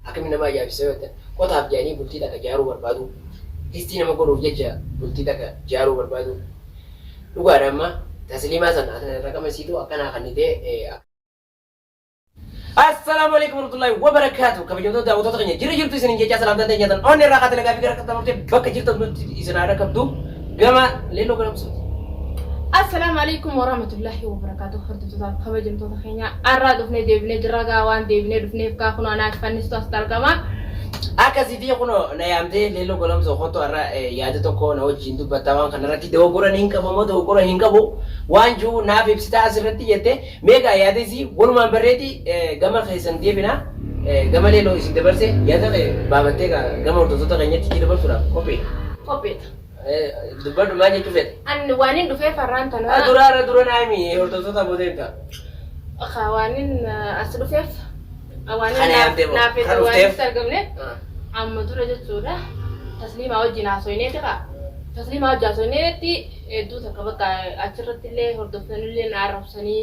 Akkamitti nama ajaa'ibsiisa yoo jettan, qotaaf jedhanii bultii takka ijaaruu barbaadu, distii nama godhuuf jecha bultii takka ijaaruu barbaadu. Dhugaadha amma Tasliimaa san raqama isiitu akkanaa kannitee. Assalaamu Aleeykum Warahmatullaahi Wabarakaatuh Kabajamtoota daawwattoota keenya jirra jirtu isiniin jechaa salaamtaan teenya tan onnee irraa kaatee nagaa fi gara qaxxaamurtee bakka jirtan nutti isin haa dhaqqabdu. Gama Lelo Galamsooti. Assalaamu Aleykum Warahmatullaahi Wabarakaatuh Hordoftoota fi kabajamtoota keenya arraa dhufnee deebinee jirra gaa waan deebinee dhufneef gaa kunoo anaa shifannistu asitti argama. Akkasiitii kunoo na yaamtee Leelloo Golamsoo kottu arra eh, yaada tokko na wajjin dubbattaa waan kana irratti dogoggora niin qaba moo dogoggora hin qabu waan jiru naaf ibsitaa as irratti jette mee gaa yaada isii walumaan barreeti eh, gama keessan deebina eh, gama Leelloo isin dabarse yaada kee baabattee gaa gama hordoftoota keenyatti itti dabarsuudhaaf qophii. Qopheedha. Dubbadhu maal jechuu fedhe? An waanin dhufee farraan tana. Ah, Dura irra dura naa himi hordoftoota booda erga. Ka waanin eh, as dhufeef eh, waanin Kana naaf- yaabdee moo? naaf Kan fedhe waanin dhufteef? itti argamne Ah. amma dura jechuudha. Tasliimaa wajjin haasofnee jira. Tasliimaa wajjin haasofneetti hedduu takka bakka achirratti illee hordoftoonni illee na arrabsanii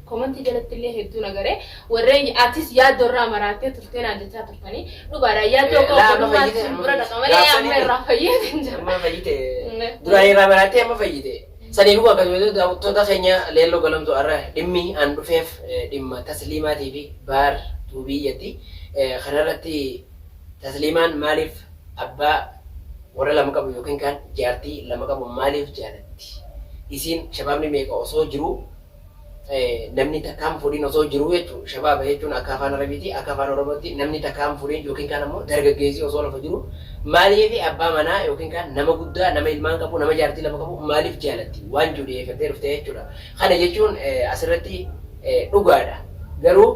Komantii jalattillee hedduun agare warreen atis yaaddoo irraa maraattee turtee naan jechaa turtanii dhugaadha yaaddoo koo obbolummaatti isin bira dhaqa malee amma irraa fayyeetiin jira. Amma fayyite duraan irraa maraattee amma fayyite. Sanii dhuguma akkasumas daawwattoota keenya leelloo galamtu har'a dhimmi aan dhufeef dhimma tasliimaatii fi baar tuubiyyatti kanarratti tasliimaan maaliif abbaa warra lama qabu yookiin kaan jaartii lama qabu maaliif jaalatti? Isiin shabaabni meeqa osoo jiruu namni takkaa hin fuudhin osoo jiruu jechuudha. Shabaaba jechuun akka afaan Arabiitii akka afaan Oromootti namni takkaa hin fuudhin yookiin kaan ammoo dargaggeessi osoo lafa jiruu maaliif abbaa manaa yookiin kaan nama guddaa nama ilmaan qabu nama jaartii lama qabu maaliif jaalatti waan jiru dhiyeeffattee dhufte jechuudha. Kana jechuun asirratti dhugaadha. Garuu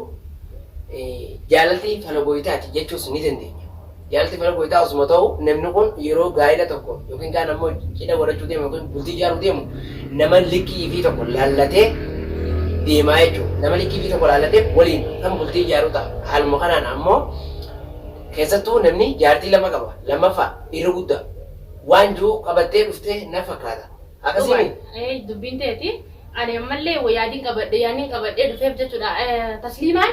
jaalalti fala gooytaati jechuus ni dandeenya. Jaarsi mana goytaa osuma ta'uu namni kun yeroo gaa'ila tokko yookiin kaan ammoo cidha godhachuu deemu yookiin bultii ijaaruu deemu nama likkii ifii tokko laallatee deemaa jechuudha. Nama likkii ifii tokko laallatee waliin kan bultii ijaaruu ta'a. Haaluma kanaan ammoo keessattuu namni jaartii lama qaba. Lammaffaa irra guddaa waan jiru qabattee dhuftee na fakkaata. Akkasii Dhugaan. miti? Ee, dubbiin teeti. Ani ammallee wa yaadin qabadhe yaannin qabadhee dhufeef jechuudha. Eh, Tasliimaan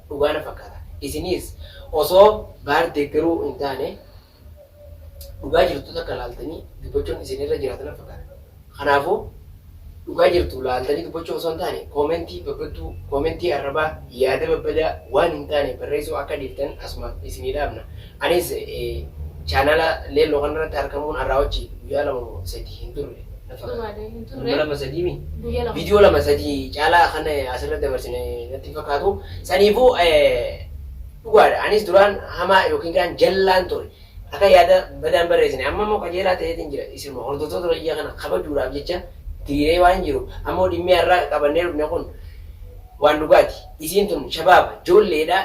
dhugaa na fakkaata. Isiniis osoo baar deeggaruu hin taane dhugaa jirtu takka laaltanii dubbachuun isin irra jiraata na fakkaata. Kanaafuu dhugaa jirtu laaltanii dubbachuu osoo hin taane koomentii babbadduu, koomentii arrabaa, yaada babbadaa waan hin taane barreessuu akka dhiiftan asumaan isinii dhaamna. Anis chaanala leelloo kanarratti arkamuun arraa wajji guyyaa lama moo sadii hin turre na fakkaata. Dhugaadha hin turre. Guyya lama sadii mi? Guyya lama. Viidiyoo lama sadii caalaa kan asirratti dabarsine natti hin fakkaatu. Saniifuu dhugaadha anis duraan hamaa yookiin kaan jallaan ture. Akka yaada badaan barreessine amma immoo qajeelaa ta'eetiin jira. Isinuma hordoftoota biyya kana kabajuudhaaf jecha diriiree waan jiru ammoo dhimmi har'aa qabannee dhufne kun waan dhugaati. Isiin tun shabaaba, joolleedha.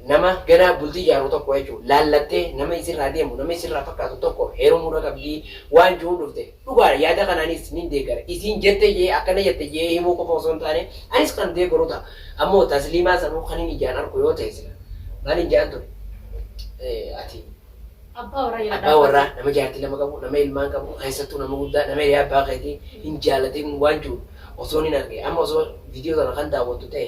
Nama ganaa bultii ijaaru tokko jechuun laallattee nama isirraa deemu, nama isirraa fakkaatu tokko heerumuudha qabdii waan ju'uun dhufte. Dhugaadha yaada kana anis nin deeggara. Isiin jette je'ee akkana jette je'ee himuu qofa osoo hin taane anis kan deeggaru ta'a. Ammoo Tasliimaa sanuu kanin ijaan arku yoo ta'e sila maalin je'an ture? Ati Abbaa warraa jala abbaa warraa dhaabbata. nama jaartii lama qabu, nama ilmaan qabu, keessattuu nama guddaa, nama hiriyaa abbaa keetii hin jaalatin waan ju'u osoo nin arge. Amma osoo viidiyoo sana kan daawwattu ta'e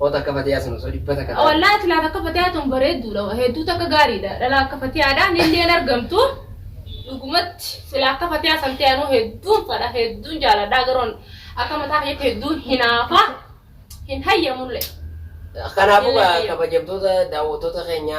Oota akka fatiyaa sun osoo dhibba takka taate. Wallahi tilaat akka fatiyaa tun bareedduudha hedduu takka gaariidha dhala akka fatiyaadha nillee hin argamtu dhugumatti sila akka fatiyaa san ta'e anuu hedduun fadha hedduun jaaladha garoon akka mataa kiyyaatti hedduun hinaafa hin hayyamulle. Kanaafuu kabajamtoota daawwattoota keenya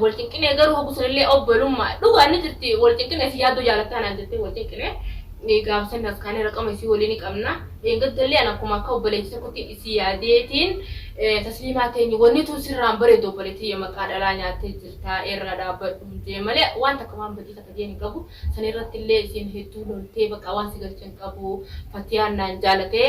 wal cinqinee garuu hoggu sanillee obbolummaa dhugaan ni jirti wal cinqinee si yaaddoo jaalattaa naan jettee wal cinqinee gaafa san as kaanee raqama isii walii ni qabna dheengaddalle an akkuma akka obboleetti tokkotti isii yaadeetiin tasliimaa teenye wanni tun sirraan bareedu obboleettiyya maqaa dhalaa nyaattee jirta irra dhaabbadhu jee malee waan takka waan badii takka jeen hin qabu san irrattillee isiin hedduu loltee baqa waan si galchan qabu fatiyaan naan jaalatee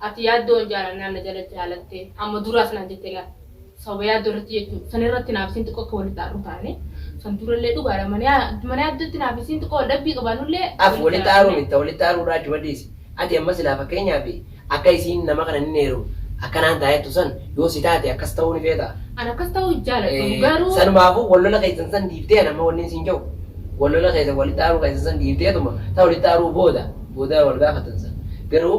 Ati yaaddoon jaalannaan na jala jaalatte amma duraas naan jette laal sababa yaaddoo irratti jechuun san irratti naaf isiin xiqqoo akka walitti aarru taane san durallee dhugaadha mana yaaddootti naaf isiin xiqqoo wal dhabbii qabaannullee Af walitti aaruu mitta walitti aaruu irraa achuma dhiisi ati amma silaa fakkeenyaaf akka isiin nama kana hin heerumu akka naan taa jettu san yoo si taate akkas ta'uu ni feetaa? An akkas ta'uu hin jaaladhu garuu. Sanumaafuu wal lola keessan san dhiiftee an amma wannin siin ja'u wal lola keessan walitti aaruu keessan san dhiifteetuma ta walitti aaruu booda booda wal gaafattan san garuu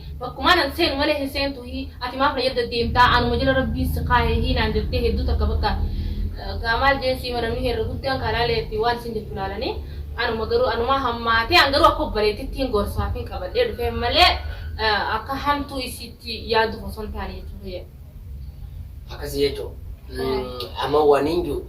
Bakkumaan an seenu malee hin seentu hii ati maaf na jadda deemtaa anuma jala rabbiin si kaahe hii naan jattee hedduu takka bakka gaa maal jeen siima namni heerre guddaan kaa laalee fi waan isin jettu laalanii anuma garuu anumaa hammaatee an garuu akka obboleettittiin gorsaafin qabadhee dhufee malee akka hamtuu isiitti yaaduuf osoo hin taane jechuu kiyya. Akkasi jechu amma wanin ju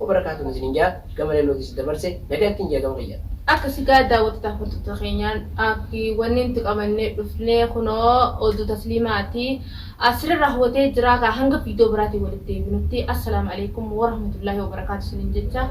Wabarakaatuh isinin jaa gama lalloo keessan dabarse nagaan ittin jaa gama kiyya. Akkasi gaa daawwattotaaf hordoftota keenya akki wanni nuti qabannee dhufnee kunoo oduu tasliimaati asirra raawwatee jiraa kaa hanga viidiyoo biraatiin walitti deebinutti assalaamu aleykum warahmatullaahi wabarakaatu isinin jecha.